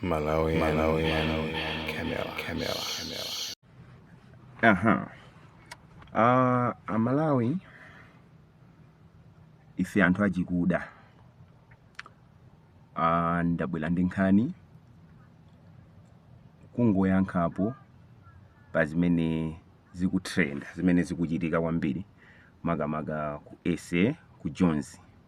Malawian, Malawian, Camera, Camera, Camera. Aha. Uh, amalawi ife anthu achikuda uh, ndabwera ndi nkhani kungoyankhapo pa zimene zikutrend zimene zikuchitika kwambiri makamaka ku SA ku Jones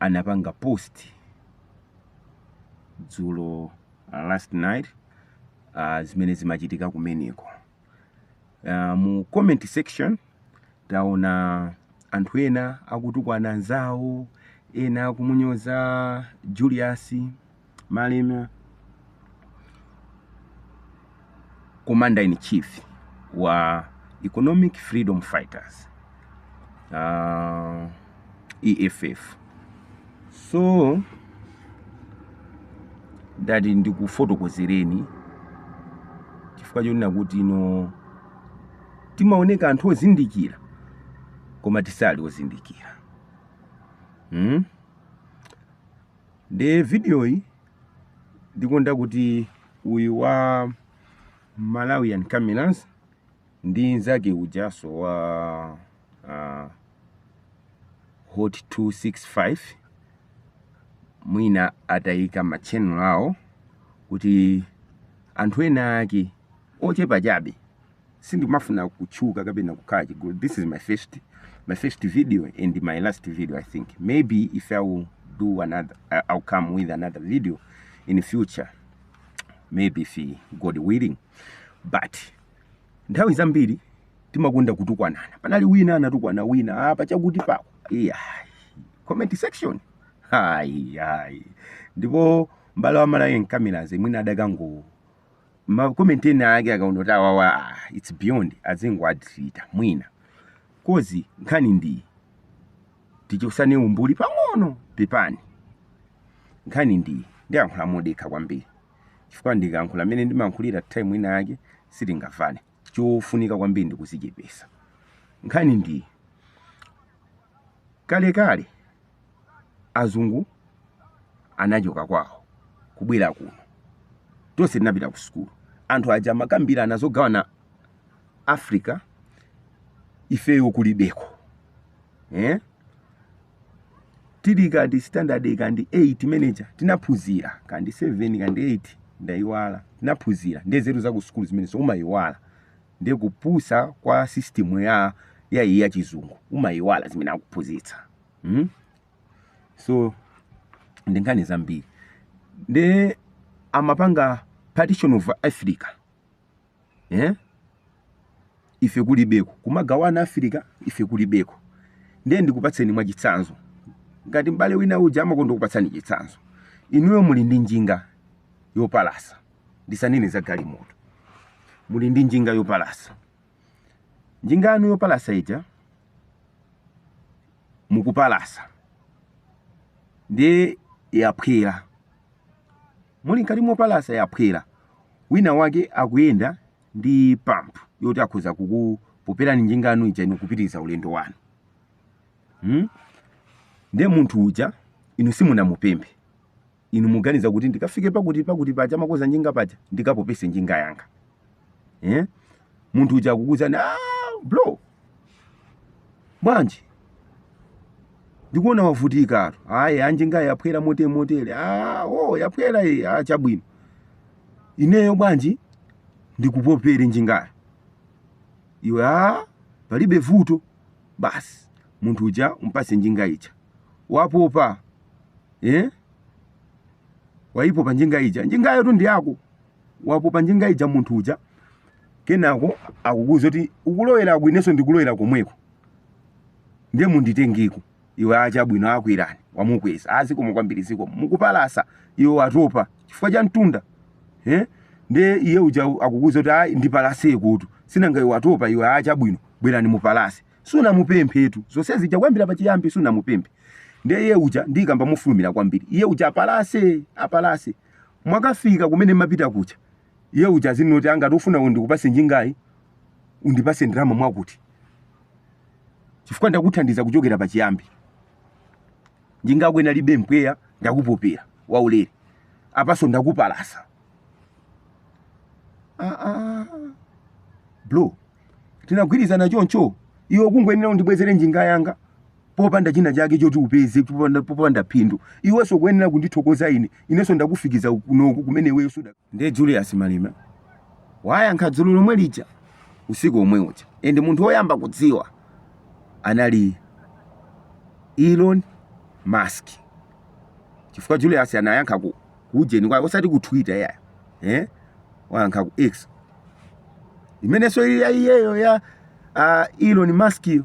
anapanga post dzulo last night uh, zimene zimachitika kumeneko uh, mu comment section taona anthu ena akutukwana anzawo ena akumunyoza Julius Malema Commander in Chief wa Economic Freedom Fighters uh, EFF so ndati ndikufotokozereni chifukwa chonena kuti ino timaoneka anthu ozindikira koma tisali ozindikira hmm? Nde videoyi ndikonda kuti uyu wa Malawian Cameras ndi nzake ujaso wa uh, Hot 265 mwina atayika ma channel awo kuti anthu ena ake ochepa chabe sindimafuna kutchuka kapena kukhala chigulu this is my first my first video and my last video i think maybe if i will do another I- i'll come with another video in future maybe if god willing but nthawi zambiri timakonda kutukwanana panali wina anatukwana wina pachakuti pako iya comment section hayi hayi ndipo mbale wa Malawian Cameras mwina adakango ma comment ena ake akaona kuti awawa ah, it's beyond azingowadilita mwina kozi nkhani ndiyi tichosane umbuli pang'ono pepani nkhani ndiyi ndiyankhula modekha kwambiri chifukwa ndikayankhula mmene ndimayankhulira time ina yake sitingamvane Chofunika kwambiri ndi kuzichepesa. Nkhani ndi iyi, kalekale azungu anachoka kwawo kubwera kuno, tonse tinapita ku sukulu. Anthu aja amakambirana zogawana Africa ifeyo kulibeko. tili kandi standard kandi 8 manager tinaphunzira kandi 7 kandi 8 ndaiwala tinaphunzira ndiye zeru za ku sukulu zimenezo umaiwala ndiye kupusa kwa system ya ya iyi ya chizungu umaiwala zimene akuphunzitsa mm? so ndi nkhani zambiri ndiye amapanga partition of africa eh? ife kulibeko kumagawana afirika ife kulibeko ndiye ndikupatseni mwachitsanzo ngati m'bale wina uja amakonda kukupatsani chitsanzo inuyo muli ndi njinga yopalasa ndisanene za galimoto muli ndi njinga yopalasa njinga yanu yopalasa ija mukupalasa ndiye yaphwera Muli mkati mopalasa yaphwera, wina wake akuyenda ndi pump yoti akhoza kukupoperani njinga yanu ija inu kupitiriza ulendo wanu. Hmm? Ndiye munthu uja inu simunamupemphe. Inu muganiza kuti ndikafike pakuti pakuti paja amakonza njinga paja ndikapopese njinga yanga. eh? munthu uja akukuuzani ah, bro bwanji ndikuona wavutikatu ayi a njingayi yaphwera motere motere ah, oh, yaphwera iyi ah, chabwino ineyo bwanji ndikupopere njingayo iwe ah, palibe vuto basi munthu uja umpase njinga ija wapopa eh? waipopa njinga ija njingayotu ndi yako wapopa njinga ija munthu uja kenako akukuuza kuti ukulowera kuti inenso ndikulowera komweko ndiye munditengeko iwe a chabwino kwerani wamukweza a zikomo kwambiri zikomo mukupalasa iwe watopa chifukwa cha mtunda eh? ndiye iye uja akukuuza kuti ayi ndipalasekotu sinanga iwe watopa iwe a chabwino bwerani mupalase sunamupemphetu zonse zija kuyambira pachiyambi sunamupemphe ndiye iye uja ndikukamba mofulumira kwambiri iye uja apalase apalase Mwakafika kumene mmapita kuja, iye uja azinena kuti a ngati ufuna ndikupase njingayi, undipase ndalama mwakuti. Chifukwa ndakuthandiza kuchokera pa chiyambi. Njinga yako inalibe mpweya, ndakupopera waulere. Apaso ndakupalasa. Ah, ah. Bro, tinagwirizana choncho, iwe kungoyenera undibwezere njinga yanga. popanda china chake choti upeze popanda, popanda phindu iwenso ukuyenera kundithokoza ine inenso ndakufikiza kunoko kumene iweyo suda ndiye julius malema wayankha dzulo lomwe lija usiku omwe uja and munthu woyamba kudziwa anali elon musk chifukwa julius anayankha ku kujeni kwake osati ku twitter ya eh? wayankha ku x imenenso ili ya iyeyo ya uh, elon musk iyo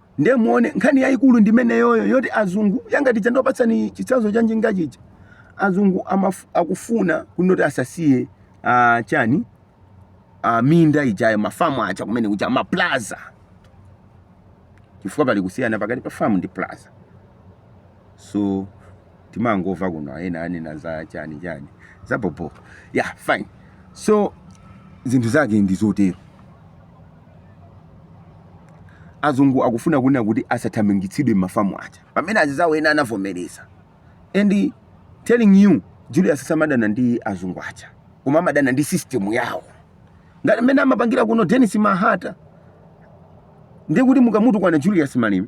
Ndiye muone nkhani yayikulu ndi imeneyoyo yoti azungu ya ngati ija ndiwapatsani chitsanzo cha njinga chija azungu akufuna kunena kuti asasiye chani minda ijayo mafamu aja kumene kuja maplaza chifukwa pali kusiyana pakati pa famu ndi plaza so timangova kuno ena anena za chani chani za bobo yeah fine so zinthu zake ndi zotero azungu akufuna kunena kuti asathamangitsidwe m'mafamu aja pamene azizawo ena anavomereza and telling you Julius samadana ndi azungu aja koma amadana ndi system yawo ngati mmene amapangira kuno Denis Mahata ndiye kuti mukamutukwana Julius Malema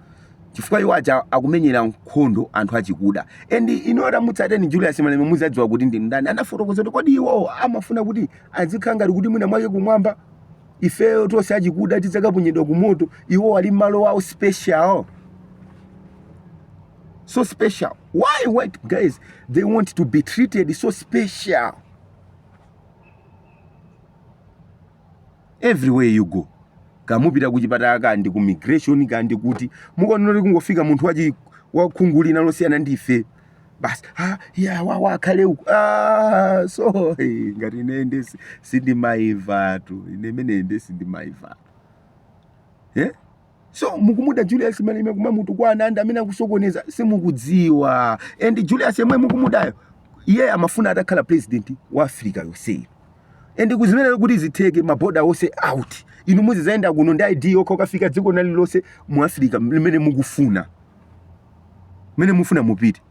chifukwa iwo aja akumenyera nkhondo anthu achikuda and inu tamutsateni Julius Malema muzadziwa kuti ndi ndani anafotokoza kuti kodi iwowo amafuna kuti azikhala ngati kuti mwina mwake kumwamba ifeyo tonse achikuda tidzakaponyedwa kumoto iwo ali m'malo awo a special so special why white guys they want to be treated so special everywhere you go kaya mupita kuchipatala kaya ndi ku immigration kaya ndi kuti mukaona kuti kungofika munthu wachi wakhungu lina losiyana ndi ife basi ah, ya wawa wakhale uku ah, so eh, ngati ine ndi si- sindimaivatu ine imene ndi sindimaivatu eh? so mukumuda Julius Malema kumamutukwana ndi amene akusokoneza simukudziwa and Julius yemweyo mukumudayo iye amafuna atakhala president wa Africa yonseyi and akuzimenyera kuti zitheke maboda onse out inu muzizayenda kuno ndi ID yokha mukafika dziko lina lililonse mu Africa limene mukufuna mmene mufuna mupite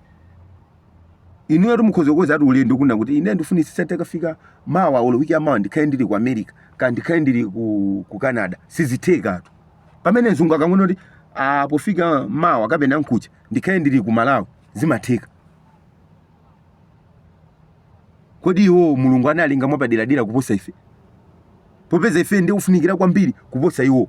inuyotu mukhoza kukozatu ulendo kunena kuti ine ndifunitsitsa tikafika mawa olo wiki yamawa ndikhale ndili ku America kaya ndikhale ndili ku, ku Canada sizithekatu pamene mzungu akangonena kuti ah, pofika mawa kapena mkuja ndikhale ndili ku Malawi zimatheka kodi iwo Mulungu analenga mwapaderadera kuposa ife popeza ife ndi ofunikira kwambiri kuposa iwo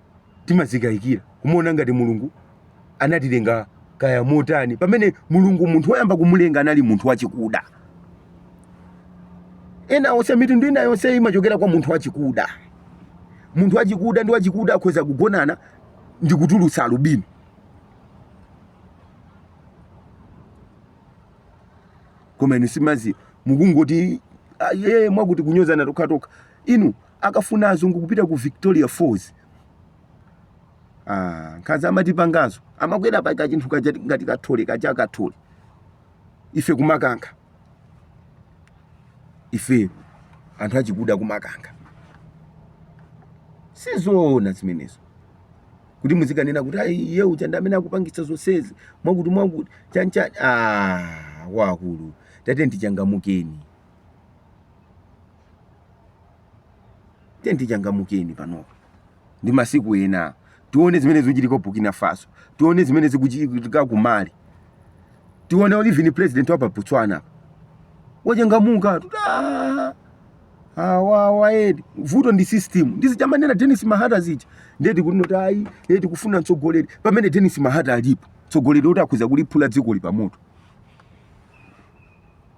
timazikayikira kumaona ngati Mulungu anatilenga kaya motani pamene Mulungu munthu woyamba kumulenga anali munthu wachikuda ena onse mitundu ina yonse imachokera kwa munthu wachikuda munthu wachikuda ndi wachikuda akhoza kugonana ndi kutulutsa alubino koma inu simuziwa mukungoti ah, ye mwakuti kunyozana tokhatokha inu akafuna azungu kupita ku victoria falls ah, nkhanza amatipangazo amakwera pa kachinthu kaja ngati kathole kaja kathole ife kumakankha ife anthu achikuda kumakankha sizoona zimenezo kuti muzikanena kuti ayi iye uja ndi amene akupangitsa zonsezi mwakuti mwakuti chanchani ah, wakulu tatiyeni tichangamuke tiyeni tichangamukeni panopa ndi masiku ena tione zimene zikuchitika ku burkina faso tione zimene zikuchitika ku mali tione even president wa pa botswana apa wachangamuka kuti "Ah, awawa akuti vuto ndi system ndi zija amanena denis mahata zija ndiye tikunena kuti ayi ife tikufuna mtsogoleri pamene denis mahata alipo mtsogoleri oti akhoza kuliphula dzikoli pamoto